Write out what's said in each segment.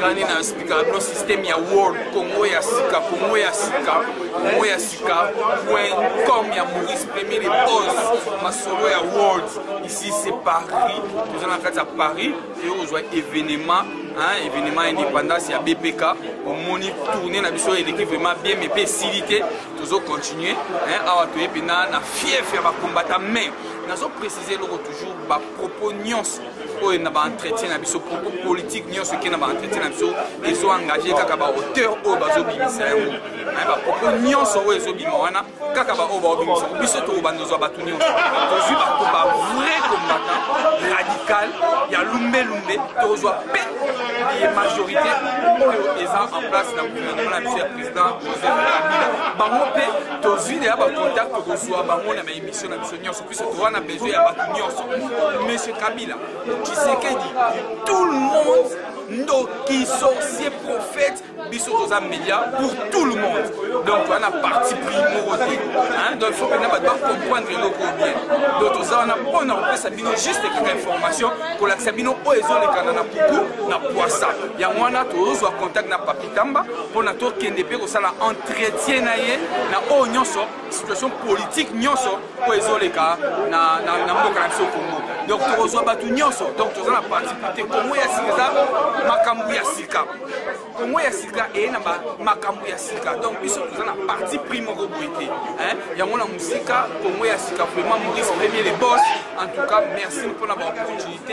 kani na spika bino systeme ya world congo ya sika congo ya sika congo ya sika point com ya maurice premier de pose masolo ya world ici c'est paris toza na kati ya paris toyo kozwa événement hein, événement indépendance ya bpk omoni tourne na biso eleki vraiment bien mais mpe esili te tozo continuer hein, awa toye mpena na fief ya bakombata mais nazo précise eloko toujours bapropos nyonso oyo na baentretien na biso propos politique nyonso eke na baentretien na biso ezo engage kaka baauteur oyo bazobimisa yango bapropos nyonso oyo ezobima wana kaka baoyo baobimisa yango biso tokobanda ozwa bato nyonso tozwi bato bavrai combattant radical ya lumbelumbe tozwa mpe ye majorité oyo eza en place na gouvernement na biso ya bango mpe tozwi deya bacontact tokozwa bango na baémission na biso nyonso puiso toza na besoin ya bato nyonso monsieur kabila kisekedi tout le monde ndoki sorcier prophète biso toza média pour tout le monde donc wana parti pris moko te donc faut mpena bato bacomprendre eloko bien donc toza wana mpo na kopesa bino juste kaka information kolakisa bino oyo ezolekana na puku na poisa yango wana tozozwa contact na papier tamba mpona tokende mpe kosala entretien na ye na oyo nyonso situation politique nyonso oyo ezoleka na, na, na mboka na biso congo donc tokozwa bato nyonso donc toza na participe te congo ya sika eza makambo ya sika congo ya sika eye na makambo ya sika donc biso toza na parti pris moko boye te yango na mosika congo ya sika vraiment maurice premier le bos en tout cas merci mpona baproduit te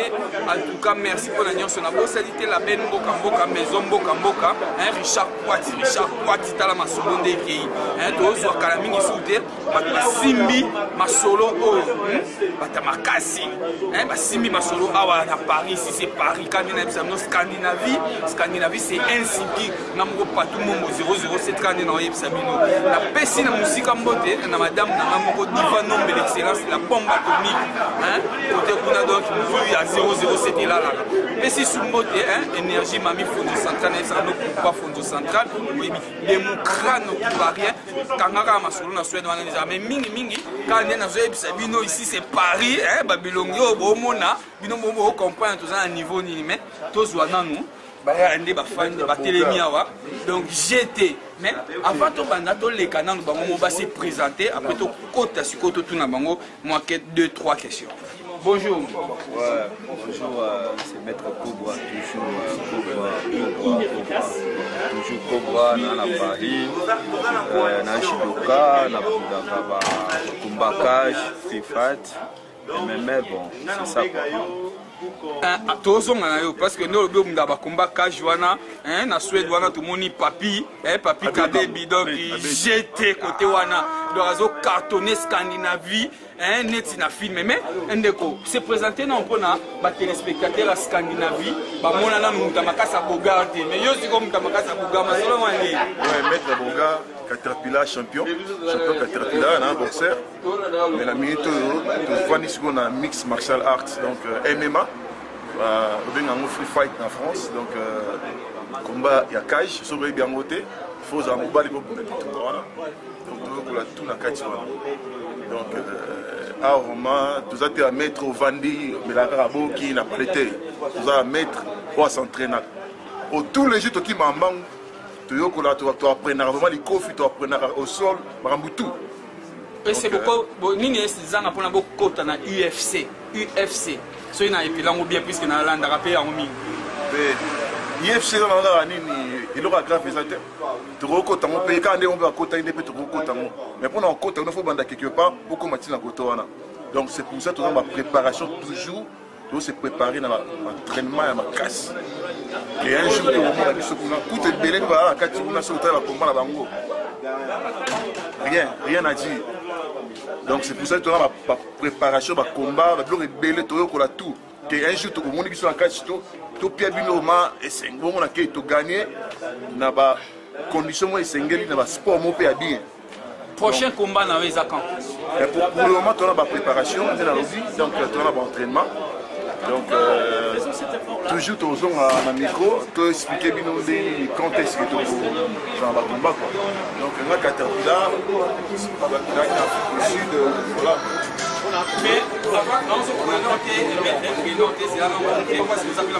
en tout cas merci mpona nyonso nabosani te label mboka mboka maison mboka mboka hein, richard kwati richard kwati tala masolo nde ekei hein, tozwa kala mingi su te bato basimbi masolo oyo hmm? bata makasi hein, basimbi masolo awa na paris si c'est paris kani na yebisa bino scandinavie scandinavie c'est un sigi na moko patou mombo 007 kaka nde na oyebisa bino napesi na mosika mbote na madame na nga moko diva nombe l'excellence la bombe atomique kote kuna donc mozwi ya 007 elalaka pesi su mbote énergie mami fonzo central nayebisaka nokupa fonzo central oyebi democrat nokupa rien kanga kaka masolo na swede wana deja mais mingi mingi kaka nde nazoyebisa bino ici c'est paris babilongi oyo bomona bino bombo ocomprendre toza na niveau nini mais tozwa nanu bayaka nde bafandi batelemi awa donc gt mais avant tobanda toleka nano bango mo base présente après tokota sikoyo totuna bango mwa 2 3 questions Bonjour. Ouais, bonjour, euh, c'est Maître Cobra, toujours euh, Cobra, Cobra, Cobra, toujours Cobra, dans la Paris, euh, dans Shidoka, dans Kumbakash, Fifat. mais mais bon c'est ça quoi eh, tozonga na yo parce que nde olobi omunda bakomba cage wana eh, na swede wana tomoni papi eh, papi kabebi donc jete kote wana donc azo cartonne scandinavie eh, neti na filme mais ndeko se présente nao mpona batelespectateur ya scandinavie bamona nanu moto ya makasi ya bogar te mais yo sikoyo moto ya makasi ya bogar masolo wana nde maître bogar caterpillar champion champion caterpillar na boxer Mais na minute oyo tofandi sikoyo na mix martial art donc euh, mma babenga yango free fight na france donc euh, combat ya cage soki oyebi yango te fo ozala mobali kobunda bitumba wana donc toyokola tu na kati wana donc euh, awa vraiment toza te ya maître ovandi omelaka kaka boki na pale te toza ya maître oyo asentrainaka o tous les jours tokima mbangu toyokola toaprenaka vraiment likofi toaprenaka au sol makambo tout ese boko bo, nini ese zanga pona bokota na UFC UFC soki na epilango bien puisque na landaka pe yango mingi UFC eza na kaka nini eloko ya grave eza te tokokota ngo mpe kaka ndenge mpe bakotaki nde mpe tokokota ngo mais mpo na kokota ngo fo banda quelque part okoma ntina koto wana donc c'est pour ça toza bapréparation toujours To se préparer na entraînement ya makasi. Et un jour, on va biso kuna kutu ebele mpe bazala na kati kuna soki otala bakomba na bango rien rien à dire donc c'est pour ça toza bapréparation bacombat babiloko ebele toyokola tout te un jour tokomoni biso na kati to topia bino ma esengo bongo na kei togagne na bacondition moko esengeli na basport moko mpe ya bien prochain combat na yo eza quand mais pour, pour le moment tona ba préparation nde nalobi donc euh, tona ba entraînement donc euh, toujours tozonga na micro to expliquer bino nde nini quand est ce que tozala ba combat quoi donc nga katapila batalaki na afrique du sud euh, voilà mais avant naozokomana te elobete elobete ezala na moke parce que ozapela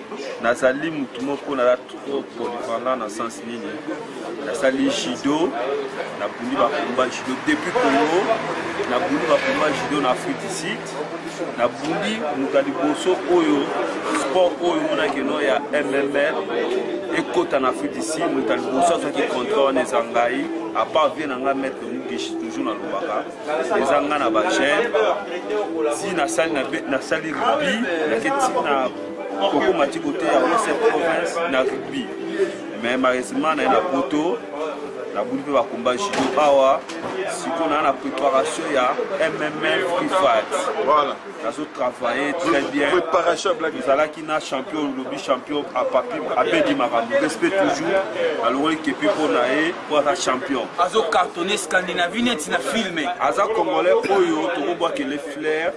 nazali motu moko naza trop polyvalent na sens nini nasali judo nabundi bakomba judo depuis congo nabundi bakomba judo na afrique du sud nabundi moto ya liboso oyo sport oyo monakeno ya mmr ekota na afrique du sud moto ya liboso azwaki contrat wana eza ngai apart vie na ngai maître mugishi toujours nalobaka eza ngai na bagene ti nasali rubi nake ti na koko mati koteya western province na rugby mais malheureusement naye na poto nabuli mpe bakomba judo awa sikoyo naa na préparation ya mmf prifat voilà. nazo travaille très bien ezalaki na champion lobi champion apapi abedi makambo respect toujours alongoli kepi mpo na ye mpo aza champion azo cartonne scandinavie neti na filme aza congolais oyo tokobwakele flair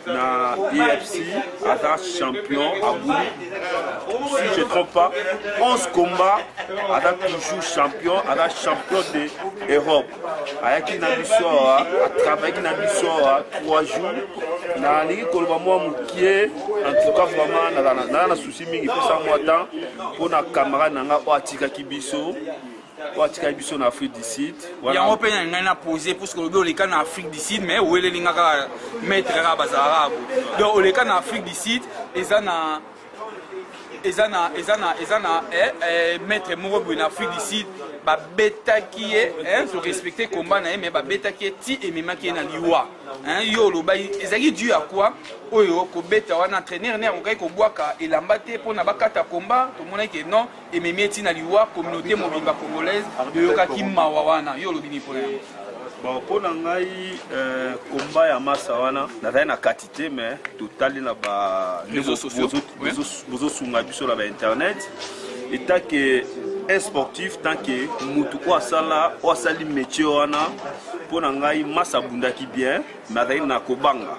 na efc aza champion abuli si je trompe pas 11 combat aza toujours champion aza champion de europe ayaki na biso awa atravayaki na biso awa 3 jours nalingi koloba mwa mokie en tout cas vraiment nazala na souci mingi pesa mwa temps mpo na camarade na ngai oyo atikaki biso oyo atikaki biso na afrique du sud yango mpe na ngai na pose puisque olobi oleka na afrique du sud mais oweleli nga kaka maître kaka bazalaka ako donc oleka na afrique du sud eza na eza na eza na eza na eh, eh, maître moko boye na afrique du sud babetaki ye torespecte combat na ye mais babetaki ye ti ememaki ye na liwa yo olobaki ezalaki du ya kua oyo kobeta wana entraîneur ne akokaki kobwaka elamba te mpona bakata combat tomonaki ke non ememi eti na liwa communauté mobimba congolaise boyokaki mawa wana yo olobi nini mpona yango bon mpo na ngai komba euh, ya masa wana nazali na kati te mais totali na babozosunga biso na bainternet etake un sportif tant que mutu oyo asala oyo asali métier wana mpo na ngai masa abundaki bien mais azali na kobanga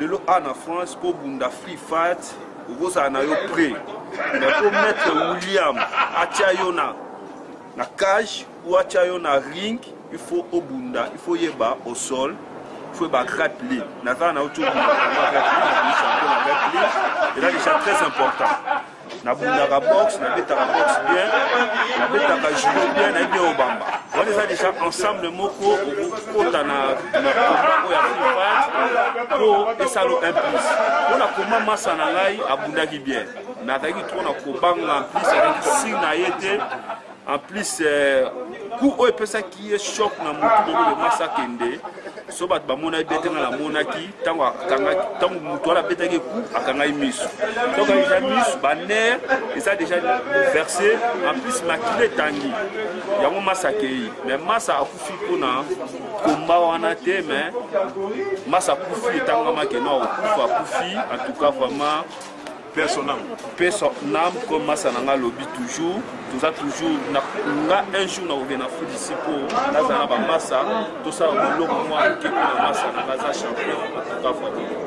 lelo a na france mpo bunda free fat okozala na yo près mais mpo maître william atya yo na na cage ou atya yo na ring il faut obunda il faut yeba au sol faut ba grappler naza na yo tobunda grappler na champion na grappler eza déjà très important nabundaka boxe nabetaka boxe bien nabetaka judo bien nayebi bien obamba wana eza déjà ensemble moko okokota na makombango ya fiat mpo esalo implice mpo na koma masa na ngai abundaki bien mais azalaki trop na kobanga mplice azalaki sire na ye te en plus euh, coup oyo epesaki ye choc na motu moko de masi akende so bato bamonaki be te nga namonaki ntango akangaki ntango motu wana abetaki coup akangaki miso donc deja miso baner eza deja verse en plus makila etangi yango masi akei mais masi akufi mpona komba wana te mais masi akufi etangamaki no akufa akufi en tout cas vraiment Paix son âme. Paix son âme, comme Massa Nanga lobby toujours. Tout ça toujours. Na, na, un jour, on revient à foot ici pour Nazana Massa. Tout ça, on l'a moi, qui est Massa Nanga champion.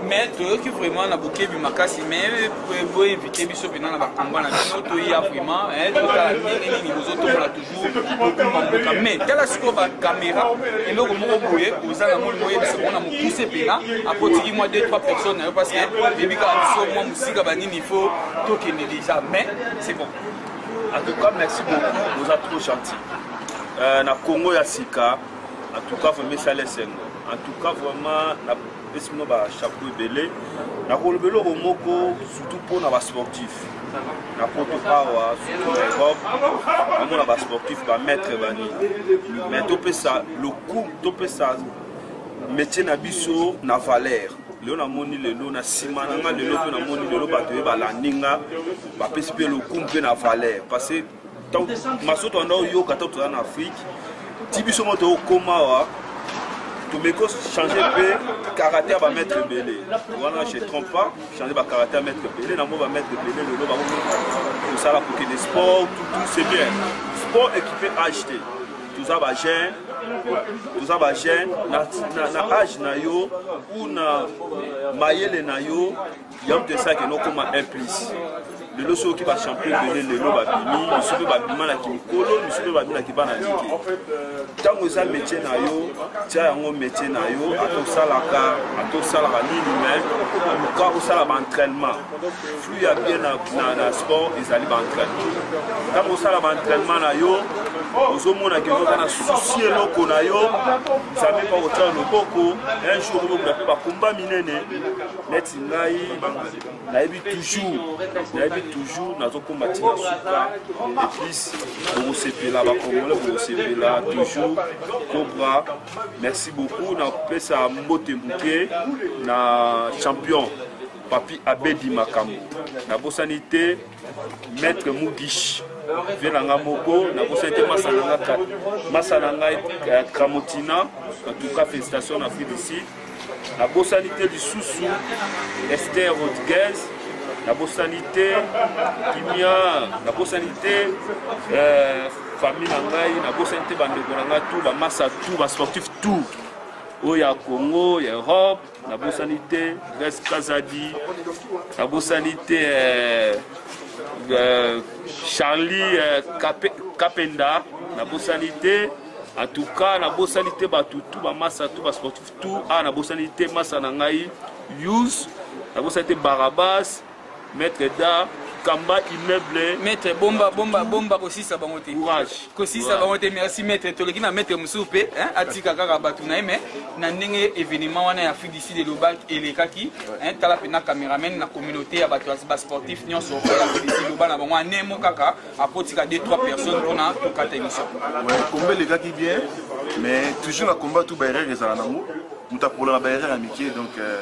Mais toi qui vraiment na bokebi makasi mais pour éviter biso pena na ba combat na biso to ya vraiment hein tout ça nini nini bozo tokola toujours komandoka mais tala sikoyo bakamera eloko moko boye oza na moni moyebisa mona mokuse mpena akotiki mwa 2 3 personnes na yo parce que yebi kaka biso mwa mosika banini il faut tokende déjà mais c'est bon en tout cas merci beaucoup oza trop gentil euh, na congo ya sika en tout cas vraiment esala esengo en tout cas vraiment pesi bino ba chapeau ebele nakoloba eloko moko surtout mpo na basportif na poto awa surtout na europe namona basportif bamaître bani mais topesa lokumu topesa métier na biso na valeur lelo namoni lelo na nsima na nga lelo mpe namoni lelo bato ye balandi nga bapesi mpe lokumu mpe na valeur parce maso tanda oyoka ntango toza na afrike ti biso mo tokoma awa tomeki ochange mpe karate ya bamaître ebele wana je trompe pas change bakarate ya maître ebele na mo bamaître ebele lelo bakosala kokende sport tout c'est bien sport équipe age te toza bajeune toza bajeune na age na yo ou na mayele na yo yango te esaki nokoma un plus lelo soki oki bachampion ebele lelo babimi misu mpe babima na kimikolo misu mpe babimi na kibana liki ntango eza métier na yo tia yango métier na yo ata osalaka ata osalaka nini mai luka osala baentrainement flux ya bien na, na, na sport ezali baentrainement ntango osala baentrainement na yo ozomona ke oza na susi eloko na yo nzambe mpa kotya loboko un jour okomona mpe bakomba minene neti ngai nayebi toujours nayebi toujours nazokoma ntina suka epuis bokosepela bakongole bokosepela toujours cobra merci beaucoup napesa mbote moke na champion papi abedi makambo nabosani te maître mugish vie na nga moko nakosa ete masa na nga masa na ngai eh, kramotina batuka félicitation na afrique du sud nabosani te lisusu ester rodriguez nabosani te kimia nabosani te eh, famille na ngai nabosani te bandeko na ngai tout bamasa tout basportif tout oyo ya congo ya europe nabosani te grace kazadi nabosani te eh, eh, charlie eh, Kape, kapenda nabosani te en tout cas nabosani te bato tu bamasa tu basportif tu a ah, nabosani te masa na ngai yus nabosani te barabas Maître d'art, kamba immeuble. Maître bomba bomba bomba kosisa bango te. Courage. Kosisa bango te. Merci maître. Toleki na maître mususu pe, hein, atika kaka batu na mais na ndenge événement wana ya Afrique du Sud elobaki elekaki, hein, tala pe na cameraman na communauté ya batu ba sportif nyonso ya Afrique du Sud loba na bango anemo kaka akotika 2 3 personnes pona tokata émission. Ouais, combat elekaki bien, mais toujours na combat tout ba erreur ezala nango. Mutapola na ba erreur ya mike donc euh...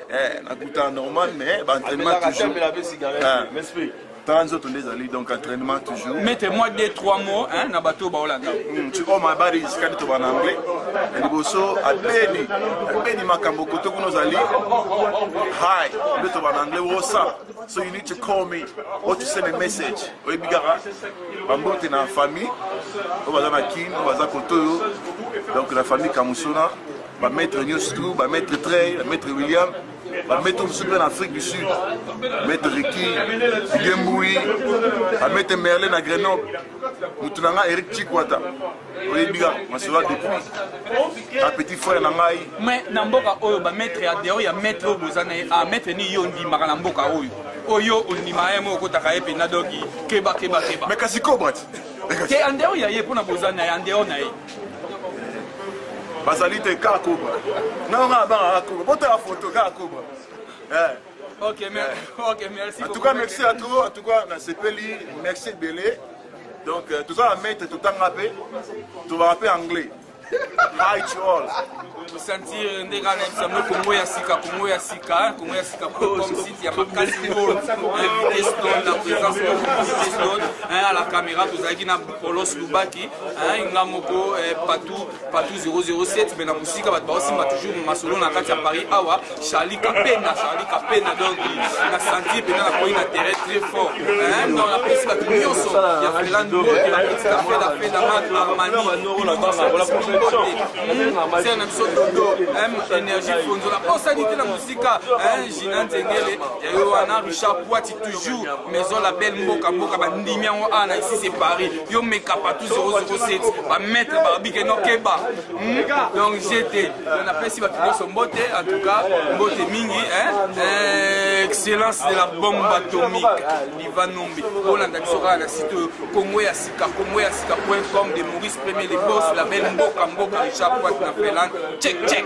Eh, nakuta normal mais ba entraînement toujours. Eh. tala nzoto nde ezali donc entraînement toujours mete moi de trois mots hein, na bato baolanda hmm, tu oma bari sikadi toba na anglais ya liboso abeni abeni makambo kote kuna ozali hi nde toba na anglais wosa so you need to call me or to send a message oyebi kaka bambote na famille oyo baza na kin oyo baza koto oyo donc na famille kamusona ba maître Newscrew, ba maître Trey, ba maître William, ba maître mosusu mpe na Afrique du Sud, maître Ricky, Gembui, ba maître Merlin na Grenoble, motu na nga Eric Chikwata, oyebi ka masura depuis a petit frère na ngai. Mais na mboka oyo ba maître ya dehors ya maître oyo boza na ye, ah maître ni yo ndimaka na mboka oyo. Oyo ondima ye moko okotaka ye mpenza doki keba keba keba. Mais kasi kobati. Te andeo ya ye mpona boza na ye andeo na ye. bazali te kaka koba nao ngai abanga kaka koba botala foto kaka koba eh. ok eh. merci en tout cas merci à trop en tout cas nasepeli merci ebele donc euh, toza na maître totanga mpe tobaka mpe anglais hi to all kosentir nde kaka nayebisa yango kongo ya sika kongo ya sika kongo ya sika comme site ya makasi ngolo invité stone na présence invité stone à la caméra tozalaki na polos lubaki nga moko patou patou 007 me na mosika bato baosimba toujours masolo na kati ya paris awa Charlie Kapena, Charlie Kapena, donc na senti pena na koyi na terrain très fort. Hein, non la pesi ba nyonso ya Freland Bote, la pesi ka fela fela mat Armani, la banga bola protection. C'est na biso dodo, hein, énergie fonzo la posa dit na musika, hein, Gina Nzengele, ya yo wana Richard Poiti toujours, maison la belle mboka mboka ba ndimi yango ana ici c'est Paris. Yo meka partout 007, ba maître barbike no keba. donc jt napesi bato nyonso mbote en tout cas mbote mingi eh, excellence de la bombe atomique liva nombe bolanda biso kaka na site oyo congo ya sika congo ya sika point com de maurice premier le bos label mboka mboka richard poit na finlande check check